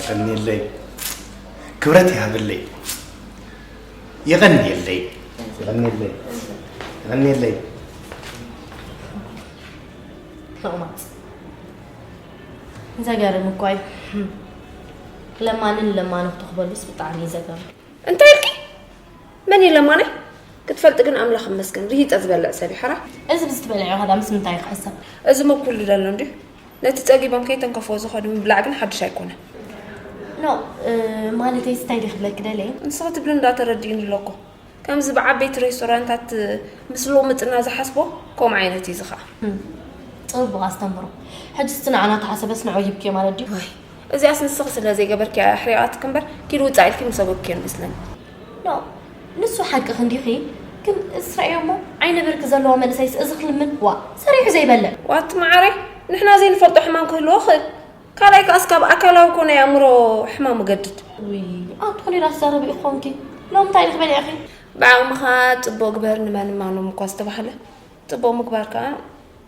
የቀንየለይ ክብረት ይሃብለይ የቀንየለይ የቀንየለይ የቀንየለይ ተቕማጥ ዘገርም እኳ እዩ ለማንን ለማኑ ክትኽበሉስ ብጣዕሚ እዩ ዘገርም እንታይ ኢልኪ መን እየ ለማናይ ክትፈልጢ ግን ኣምላኽ እመስገን ርሂጠ ዝበልዕ ሰብ እዩ ሓራ እዚ ብዝትበልዐ ከዳ ምስ ምንታይ ክሕሰብ እዚ ሞ ኩሉ ደሎ እንድዩ ነቲ ጸጊቦም ከይተንከፍዎ ዝኸዱ ምብላዕ ግን ሓድሽ ኣይኮነ ኖ ማለተይ ስታይ ዲ ክብለኪ ደለ ንስኺ ትብሊ እንዳተረድእኒ ኣለኮ ከምዚ ብዓበይቲ ሬስቶራንታት ምስ ሎምጥና ዝሓስቦ ከምኡ ዓይነት እዩ ዝኸዓ ጽቡቕ ኣስተምህሮ ሕጂ ስቲ ንዓና ተሓሰበስ ንዑ ይብኪዮ ማለት ድዩ እዚኣስ ንስኺ ስለ ዘይገበርኪ ኣሕሪቓትኪ እምበር ኪድ ውጻእ ኢልኪ ምሰጎግኪዮ ንመስለኒ ን ንሱ ሓቅኺ እንዲኺ ግን እዚ ስረዕዮ እሞ ዓይነ ብርኪ ዘለዎ መንእሰይስ እዚ ክልምን ዋእ ሰሪሑ ዘይበልዕ። ዋት መዓረይ ንሕና ዘይንፈልጦ ሕማም ክህልዎ ይኽእል ካልኣይ ከኣስ ካብ ኣካላዊ ኮነ የእምሮ ሕማም እገድድ። ውይ ኣቲ ኮሊራ ትዛረቢ ኢኺ ኮንኪ ሎሚ ታይ ድኺ በሊዕኺ። ብዓቕምኻ ጽቡቕ ግበር ንመን እማኖም እኳ ዝተባህለ ጽቡቕ ምግባር ከኣ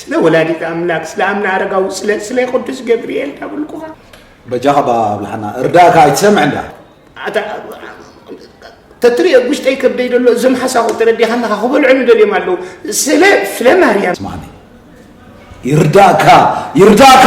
ስለ ወላዲት ኣምላክ ስለ ኣምና ኣረጋዊ ስለ ስለ ቅዱስ ገብርኤል ዳብልኩኻ በጃኻ ባብላሓና እርዳእካ ኣይትሰምዕ እንዳ ተትሪኦ ጉሽጠይ ከብደይ ደሎ እዞም ሓሳኹ ተረዲኻናኻ ክበልዑ ንደልዮም ኣለዉ ስለ ስለ ማርያም ስማኒ ይርዳእካ ይርዳእካ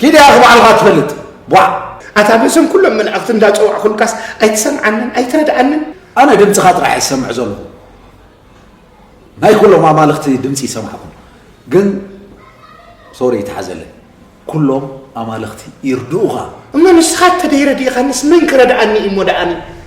ኪድ ያኺ ባዕልኻ ትፈልጥ ቧዕ። ኣታ በዞም ኩሎም መላእኽቲ እንዳጸዋዕኹልካስ ኣይትሰምዓንን ኣይትረድኣንን። ኣነ ድምጽኻ ጥራሕ እየ ዝሰምዕ ዘለኹ ናይ ኩሎም ኣማልኽቲ ድምጺ ይሰማዕኩም ግን ሶሪ ይትሓዘለይ ኩሎም ኣማልኽቲ ይርድኡኻ። እሞ ንስኻ እተደይረድኢኻንስ መን ክረድኣኒ እዩሞ ደኣኒ።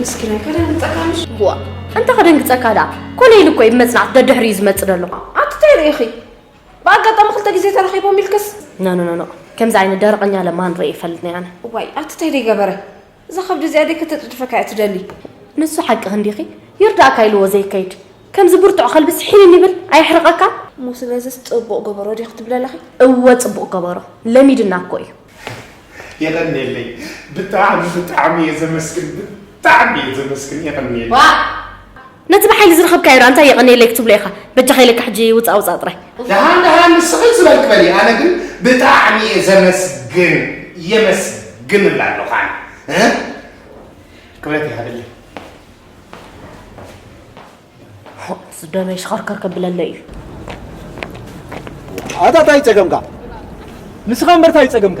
ምስኪናይ ከደንግፀካ ነሽ ዋ እንተ ከደንግፀካ ደኣ ኮነ ኢሉ እኮ እዩ ብመፅናዕቲ ደድሕሪ እዩ ዝመፅእ ደሎ ኣንቲ እንታይ ርኢኺ ብኣጋጣሚ ክልተ ግዜ ተራኺቦም ኢልክስ ኖኖኖኖ ከምዚ ዓይነት ደረቐኛ ለማን ርኢ ይፈልጥ ነይ ኣነ ዋይ ኣቲ እንታይ ደይገበረ እዛ ከብዲ እዚኣ ደይ ከተጽድፈካ እያ ትደሊ። ንሱ ሓቅኺ እንዲኺ ይርዳእካ ኢልዎ ዘይከይድ ከምዚ ብርቱዕ ከልቢ ስሒንኒ ይብል ኣየሕርቐካ። እሞ ስለዝስ ጽቡቕ ገበሮ ዲኺ ትብሊ ኣለኺ? እወ ጽቡቕ ገበሮ ለሚድና እኮ እዩ። የቐንየለይ ብጣዕሚ ብጣዕሚ እየ ዘመስግን ብጣዕሚ እየ ዘመስግን የቐንየለይ። ዋእ! ነቲ ብሓይሊ ዝረኸብካዮ ድኣ እንታይ የቐንየለይ ክትብሎ ኢኻ በጃኻ ኢለካ ሕጂ ውጻእ ውጻእ ጥራይ። ደሃን ደሃን ንስኺ ዝበልኪ በሊ ኣነ ግን ብጣዕሚ እየ ዘመስግን የመስግንላ ኣለኹ ኣነ ክብረት ይሃበለይ። ሑቕስ ደመይ ሽኸርከር ከብለለይ እዩ። ኣታ ታይ ጸገምካ ንስኻ እምበር ታይ ጸገምካ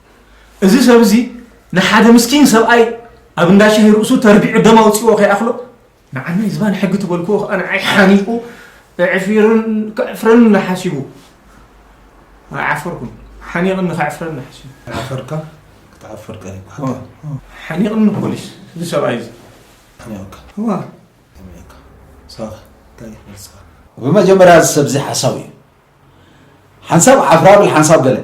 እዚ ሰብ እዚ ንሓደ ምስኪን ሰብኣይ ኣብ እንዳ ሻሂ ርእሱ ተርቢዑ ደም ኣውፅዎ ከይኣኽሎ ንዓናይ ዝባን ሕጊ ትበልክዎ ከዓ ንዓይ ሓኒቑ እዕፊርን ከዕፍረኒ ሓሲቡ ኣይዓፈርኩን ሓኒቕኒ ከዕፍረኒ ሓሲቡ ዓፈርካ ክትዓፍር ቀን ይበሃል ሓኒቕኒ ፖሊስ እዚ ሰብኣይ እዚ ሓኒቕካ እዋ ሓኒቕካ ሳኻ እንታይ መልስኻ ብመጀመርያ እዚ ሰብ እዚ ሓሳዊ እዩ ሓንሳብ ዓፍራብል ሓንሳብ ገለ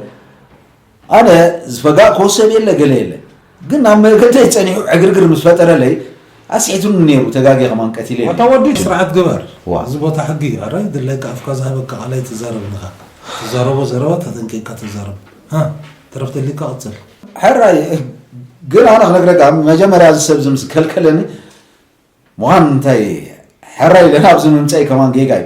ኣነ ዝፈጋእክዎ ሰብ የለ ገለ የለ ግን ኣብ መገደይ ጸኒሑ ዕግርግር ምስ ፈጠረለይ ኣስሒቱኒ ነይሩ ተጋጌ ከማን ቀቲለ ኣታ ወዲ ስርዓት ግበር ዋ። እዚ ቦታ ሕጊ እዩ ኣረ ድለይካ ኣፍካ ዝሃበካ ቃል ኣይትዛረብ ንኻ ትዛረቦ ዘረባ ተጠንቂቅካ ተዛረብ ሃ ተረፍ ደሊካ ቅጽል ሕራይ ግን ኣነ ክነግረካ መጀመርያ እዚ ሰብ እዚ ምስ ከልከለኒ ምዃን እንታይ ሕራይ ኢለ ናብዚ ምምፀኢ ከማን ጌጋ እዩ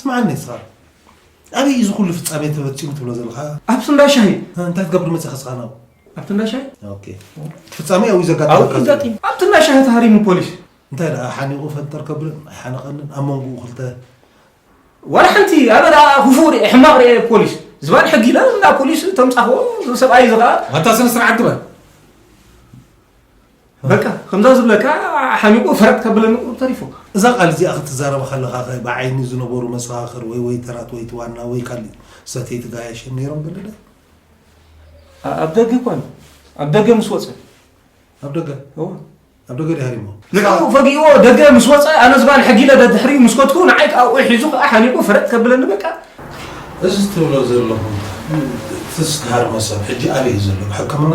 ስምዓኒ እስኻ ኣበይ እዩ እዚ ኩሉ ፍጻሜ ተፈጺሙ ትብሎ ዘለኻ? ኣብቲ እንዳ ሻሂ እንታይ ትገብር መጺኻ እስኻ ናብ ኣብቲ እንዳ ሻሂ ኦኬ ፍጻሜ ኣብኡ ዘጋጥመካ ኣብቲ እንዳ ሻሂ ተሃሪሙ ፖሊስ እንታይ ደኣ ሓኒቑ ፈንጠር ከብልን ኣይሓነቐንን ኣብ መንጎኡ ክልተ ዋላ ሓንቲ ኣነ ደኣ ክፉእ ርኤ ሕማቕ ርኤ ፖሊስ ዝባን ሕጊ ኢላ እንዳ ፖሊስ ተምጻኽዎ ሰብኣይ እዚ ከዓ ኣታ ስነ ስርዓት ግበር በቃ ከምዛ ዝብለካ ሓሚቁ ፈረጥ ከብለኒ ቁሩብ ተሪፉ። እዛ ቃል እዚኣ ክትዛረባ ከለኻኸ ብዓይኒ ዝነበሩ መሰኻኽር ወይ ወይተራት ወይ እቲ ዋና ወይ ካሊእ ሰተይቲ ጋያሸ ነይሮም በለለይ። ኣብ ደገ እኳ እዩ ኣብ ደገ ምስ ወፀ ኣብ ደገ እወ ኣብ ደገ ድሃሪሞ ንዕኡ ፈጊእዎ ደገ ምስ ወፀ ኣነ ዝባን ሕጊለ ደድሕሪኡ ምስ ኮትኩ ንዓይ ከዓ ኡዕ ሒዙ ከዓ ሓኒቑ ፈረጥ ከብለኒ በቃ እዚ ትብሎ ዘለኹ ትዝተሃርመ ሰብ ሕጂ ኣበይ እዩ ዘሎ ብሕክምና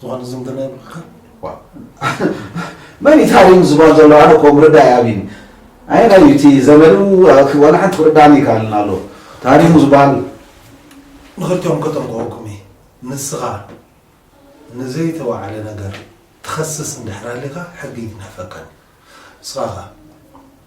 ዝኾነ ዝምድና ይብልካ መን ኢታሪም ዝበሃል ዘሎ ኣነ እኮ ምርዳእ ኣብኒ ኣይናይ እዩ እቲ ዘመዱ ዋላ ሓንቲ ክርዳእኒ ይከኣልን ኣሎ ታሪሙ ዝበሃል ንኽልቲኦም ከጠንቅቐኩም እየ ንስኻ ንዘይተዋዕለ ነገር ትኸስስ እንድሕር ሃሊኻ ሕጊ ይትንሕፈካን እዩ ንስኻ ኸ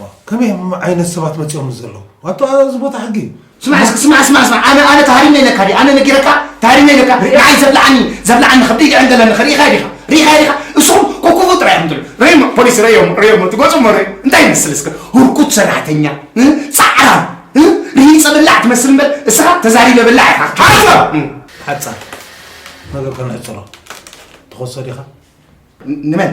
ዋው ከመይ ዓይነት ሰባት መጺኦምሉ ዘለዉ ዋቶ ኣዚ ቦታ ሕጊ እዩ። ስማዕ እስኪ ስማዕ ስማዕ ስማዕ ኣነ ኣነ ተሃሪመ ኢለካ ድየ ኣነ ነጊረካ ተሃሪመ ኢለካ ንዓይ ዘብልዓኒ ዘብልዓኒ ከብደይ ይዕንገል ኣለኺ ርኢኻዮ ዲኻ ርኢኻዮ ዲኻ እስኹም ኮኩቡ ጥራይ ኢኹም ትብሉ ርእዩሞ ፖሊስ ርእዩሞ ርእዩሞ እቲ ገጹ እሞ ርእዩ እንታይ ይመስል እስከ ሁርኩት ሰራሕተኛ ጻዕራም ርሂጸ በላዕ ትመስል እምበር እስኻ ተዛሪበ በላዕ ኢኻ ሃርዞ ሓጻር ነገር ከነሕጽሮ ትኸሶ ዲኻ ንመን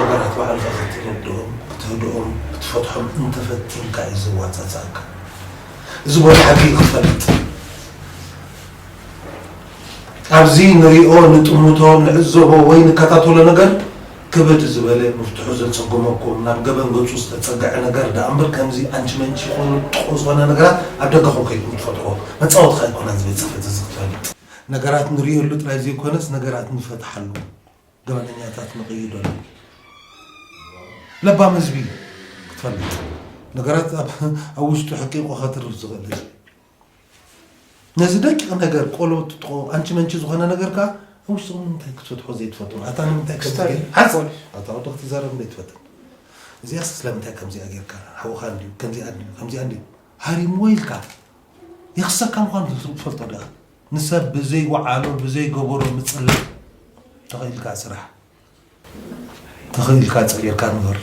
ነገራት ባዕልኻ ክትረድኦም፣ ክትህድኦም፣ ክትፈትሖም እንተፈቲንካ እዩ ዘዋጻጽኣካ። እዚ ቦታ ሓቂ ክትፈልጥ ኣብዚ ንሪኦ፣ ንጥምቶ፣ ንዕዘቦ ወይ ንከታተሎ ነገር ክብድ ዝበለ ምፍትሑ ዘጸግመኩም ናብ ገበን ገጹ ዝተጸገዐ ነገር ደኣ እምበር ከምዚ ኣንቺ መንቺ ኮይኑ ጥዑም ዝኾነ ነገራት ኣብ ደገኹም ከይድኩም ትፈጥርዎ መጻወትኻ ኣይኮነን እዚ ቤት ጽሕፈት እዚ ክትፈልጥ ነገራት ንርእየሉ ጥራይ ዘይኮነስ ነገራት ንፈትሓሉ ገበነኛታት ንቕይደሉ ለባም ህዝቢ ክትፈልጥ ነገራት ኣብ ውሽጡ ሕቂቑ ከትርፍ ዝኽእል ህዝቢ ነዚ ደቂቕ ነገር ቆሎ ትጥቆ ኣንቺ መንቺ ዝኾነ ነገር ከዓ ኣብ ውሽጡ ንምንታይ ክትፈትሖ ዘይትፈትሖ ኣታ ንምንታይ ኣታ ወዲ ክትዛረብ እንደ ትፈትን እዚኣ ስለምንታይ ከምዚኣ ጌርካ ሓውኻ እንዲዩ ከምዚኣ እንዲዩ ከምዚኣ እንዲዩ ሃሪምዎ ኢልካ ይኽሰካ ምዃኑ ተትፈልጦ ድኣ ንሰብ ብዘይ ወዓሎ ብዘይ ገበሮ ምጽላእ ተኺኢልካ ስራሕ ተኺኢልካ ጸጊርካ ንበር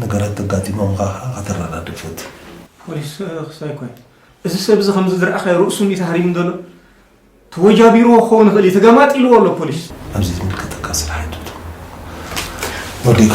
ነገራት ተጋጢሞምካ ከኣ ከተረዳድእ ፈትን። ፖሊስ ክሳይ ኮይ እዚ ሰብ እዚ ከምዚ ዝረኣኻዮ ርእሱ እንዲዩ ተሃሪሙ ዘሎ ተወጃቢርዎ ክኸውን ይኽእል እዩ ተገማጢልዎ ኣሎ ፖሊስ ኣብዚ ዝምልከተካ ስራሕ ኣድምቶ ወዲእካ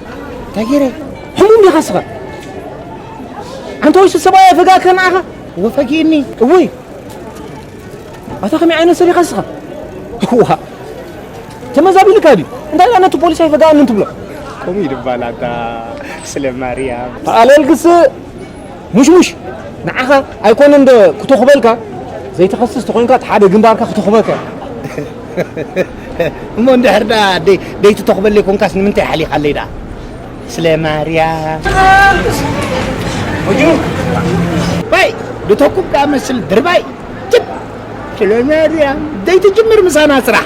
እንታይ ገይረ ሕሙም ዲኻ ስኻ ኣንተ ወይሲ ሰብኣይ ኣፈጋከ ንዓኻ ወፈጊኒ እውይ ኣታ ከመይ ዓይነት ሰብ ኢኻ ስኻ ዋ ተመዛቢልካ ድዩ እንታይ ዳ ነቲ ፖሊስ ኣይፈጋኣንን ትብሎ ከምኡ ይድባል ኣታ ስለ ማርያም ተኣለልግስ ሙሽሙሽ ንዓኻ ኣይኮነን ዶ ክተኹበልካ ዘይትኸስስ ተኾይንካ እቲ ሓደ ግንባርካ ክተኹበካ እሞ እንድሕር ደኣ ደይትተኹበለይ ኮንካስ ንምንታይ ሓሊኻለይ ደኣ ስለ ማርያም ወጅኑ ባይ ልተኩብ ደኣ መስል ድርባይ ጅብ ስለ ማርያም ዘይትጅምር ምሳና ስራሕ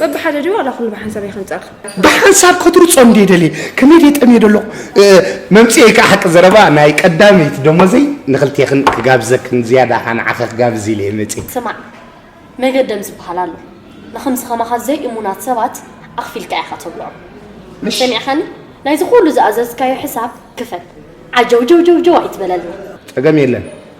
በብሓደ ድዩ ዋላ ኩሉ ብሓንሳብ እየ ከንጽኣልካ? ብሓንሳብ ከትርጾ እንድየ ደልየ፣ ከመይ ድየ ጠምየ ደለኹ። መምጽኤይ ከኣ ሓቂ ዘረባ ናይ ቀዳመይቲ ደሞዘይ ንኽልቴኽን ክጋብዘክን ዝያዳ ከኣ ንዓኺ ክጋብዝ ኢለ እየ መጺኤ። ስማዕ መገደም ዝበሃል ኣሎ፣ ንኸምዚ ከማኻ ዘይእሙናት ሰባት ኣኽፊልካ ኢኻ ተብልዖም። ሰሚዕካኒ? ናይዚ ኩሉ ዝኣዘዝካዮ ሕሳብ ክፈል። ዓጀውጀውጀውጀው ኣይትበለልና። ጸገም የለን።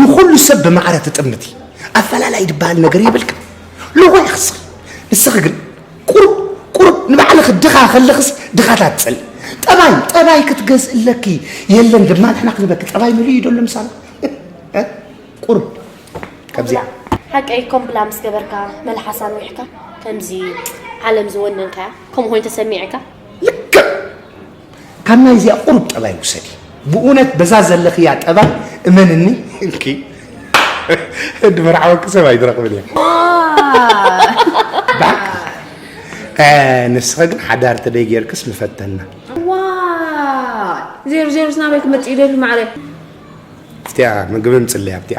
ንኹሉ ሰብ ብማዕረ ትጥምቲ ኣፈላላይ ዝበሃል ነገር የብልካ ልኾይ ክስኺ ንስኺ ግን ቁሩብ ቁሩብ ንባዕልኺ ድኻ ከለኽስ ድኻታት ትፅል ጠባይ ጠባይ ክትገዝእለኪ የለን ድማ ንሕና ክንበኪ ጠባይ ምሉ እዩ ደሎ ምሳና ቁሩብ ከምዚኣ ሓቀይ ኮም ብላ ምስ ገበርካ መልሓሳ ንዊሕካ ከምዚ ዓለም ዝወነንካያ ከምኡ ኮይኑ ተሰሚዕካ ልክዕ ካብ ናይ እዚኣ ቁሩብ ጠባይ ውሰዲ ብእውነት በዛ ዘለኽያ ጠባይ እመንኒ ኢልኪ ድመርዓወኪ ሰብ ኣይትረኽብን እየ ንስኸ ግን ሓዳር ተደይ ጌርክስ ምፈተና ዜሮ ዜሮ ስናበይ ክመፅእ ይደሊ ማዕረ እቲያ ምግቢ ምፅለያ ኣብቲያ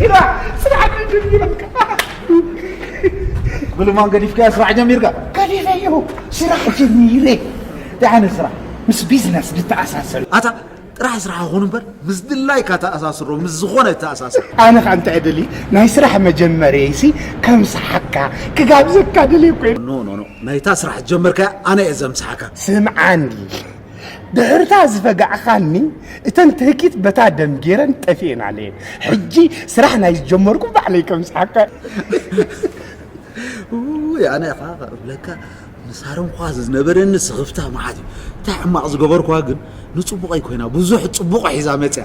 ስራሕ ስራሕ ጀሚረካ ብልማን ገዲፍካያ ስራሕ ጀሚርካ ገዲፈዮ ስራሕ ጀሚረ ደሓነ ስራሕ ምስ ቢዝነስ ዝተኣሳሰር ኣታ ጥራሕ ስራሕ ይኹን እምበር ምስ ድላይካ ተኣሳስሮ ምስ ዝኾነ ተኣሳስር ኣነ ከዓ እንታይ ደሊ ናይ ስራሕ መጀመርየይሲ ከም ስሓካ ክጋብዘካ ደልየ ኮ ኖ ኖ ኖ ናይታ ስራሕ ጀመርካያ ኣነ እየ ዘምስሓካ ስምዓኒ ድሕርታ ዝፈጋዕኻኒ እተን ትህኪት በታ ደም ጌረን ጠፊኤን ኣለየን ሕጂ ስራሕ ናይ ዝጀመርኩ ባዕለይ ከም ዝሓካ ውይ ኣነ ኸዓ እብለካ ንሳሮን ኳ ዝነበረኒ ስኽፍታ መዓት እዩ እንታይ ሕማቕ ዝገበርኩዋ ግን ንፅቡቐይ ኮይና ብዙሕ ፅቡቕ ሒዛ መፅያ